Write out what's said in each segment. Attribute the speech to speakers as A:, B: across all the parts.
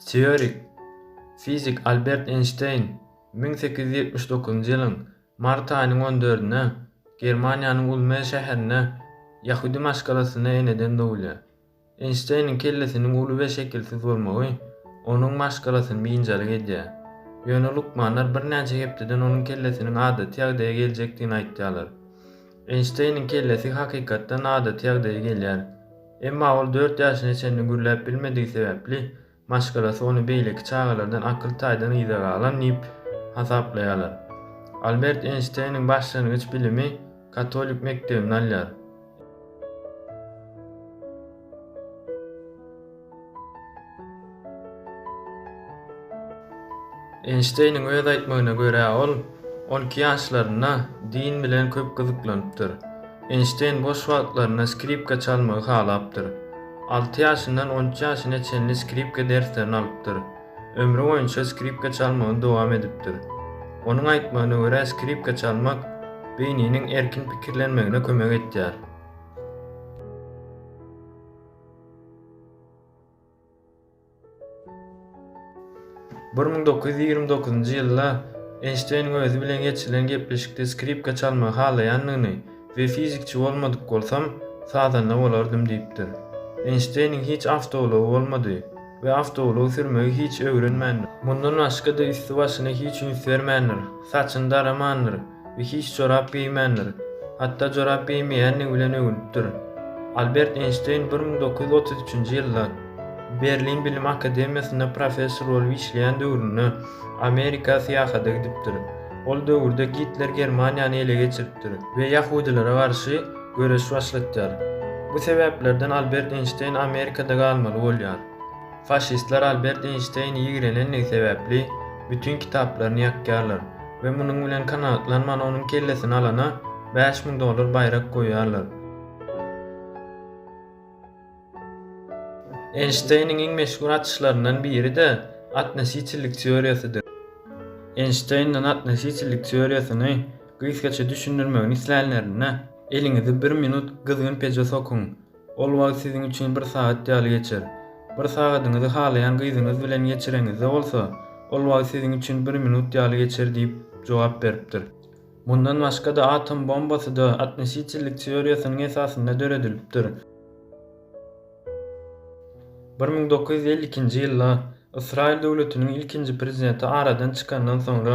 A: Teorik fizik Albert Eýnşteýn müň sekiz ýüz ýetmiş dokuzynjy ýylyň mart aýynyň on dördünde Germaniýanyň Ulm şäherinde ýahudy maşgalasynda eneden dogulýar. Eýnşteýniň kellesiniň uly we şekilsiz bolmagy onuň maşgalasyny biynjalyk edýär. Ýöne lukmanlar birnäçe hepdeden onuň kellesiniň adaty ýagdaýa geljekdigini aýtýarlar. Eýnşteýniň kellesi hakykatdan adaty ýagdaýa gelýär. Emma ol dört ýaşyna çenli gürläp bilmedigi sebäpli, maşgalasy ony beýleki çagalardan akyl taýdan yza galan diýip hasaplaýarlar. Albert Eýnşteýniň başlangyç bilimi katolik mekdebinde alýar. Eýnşteýniň öz aýtmagyna görä ol on iki ýaşlarynda din bilen köp gyzyklanypdyr. Eýnşteýn boş wagtlarynda skripka çalmagy halapdyr. Alty ýaşyndan on üç ýaşyna çenli skripka derslerini alypdyr. Ömri boýunça skripka çalmagyny dowam edipdir. Onuň aýtmagyna görä skripka çalmak beýniniň erkin pikirlenmegine kömek etýär. Bir müň dokuz ýüz ýigrimi dokuzynjy ýylda Eýnşteýniň özi bilen geçirilen gepleşikde skripka çalmagy halaýandygyny we fizikçi bolmadyk bolsam, sazanda bolardym diýipdir. Eýnşteýniň hiç awtoulagy bolmady we awtoulag sürmegi hiç öwrenmändir. Mundan başga-da üsti-başyna hiç üns bermändir, saçyny daramandyr. We hiç jorap geýmändir. Hatda jorap geýmeýändigi bilen öwünipdir. Albert Eýnşteýn bir müň dokuz ýüz otuz üçünji ýylda Berlin bilim akademiýasynda professor bolup işleýän döwründe Amerika syýahata gidipdir. Ol döwürde Gitler Germaniýany ele geçiripdir we ýahudylara garşy göreş başlatýar. Bu sebäplerden Albert Eýnşteýn Amerikada galmaly bolýar. Faşistler Albert Eýnşteýni ýigrenendigi sebäpli bütin kitaplaryny ýakýarlar. we munuň bilen kanagatlanman onuň kellesini alana bäş müň dollar baýrak goýýarlar. Eýnşteýniň iň meşhur açyşlaryndan biri-de atnositellik teoriýasydyr. Eýnşteýnden atnositellik teoriýasyny gysgaça düşündirmegini islänlerinde, eliňizi bir minut gyzgyn peje sokuň. Ol wagt siziň üçin bir sagat ýaly geçer. Bir sagadyňyzy halaýan gyzyňyz bilen geçireňizde bolsa, ol wagt siziň üçin bir minut ýaly geçer diýip jogap beripdir. Mundan başga-da atom bombasy-da atnositellik teoriýasynyň esasynda döredilipdir. Bir müň dokuz ýüz elli ikinji ýylda Ysraýyl döwletiniň ilkinji prezidenti aradan çykandan soňra,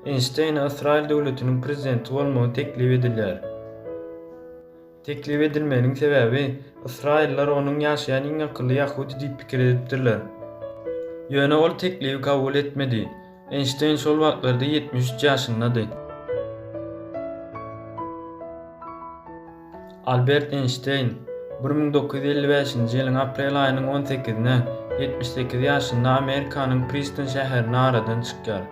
A: Eýnşteýne Ysraýyl döwletiniň prezidenti bolmagy teklip edilýär. Teklip edilmeginiň sebäbi, ysraýyllar onuň ýaşaýan iň akylly ýahudy diýip pikir edipdirler. Ýöne ol teklibi kabul etmedi. Eýnşteýn şol wagtlarda ýetmiş üç ýaşyndady. Albert Eýnşteýn bir müň dokuz ýüz elli bäşinji ýylyň aprel aýynyň on sekizine ýetmiş sekiz ýaşynda Amerikanyň Priston şäherinde aradan çykýar.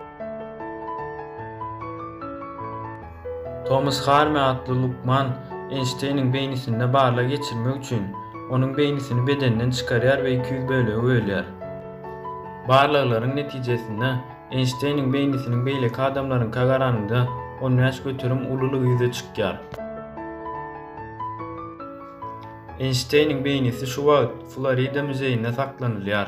A: Tomas Harme atly lukman Eýnşteýniň beýnisinde barlag geçirmek üçin, onuň beýnisini bedenden çykarýar we iki ýüz bölege bölýär. Barlaglaryň netijesinde, Eýnşteýniň beýnisiniň beýleki adamlaryňka garanyňda on bäş göterim ululygy ýüze çykýar. Eýnşteýniň beýnisi şu wagt Florida müzeýinde saklanylýar.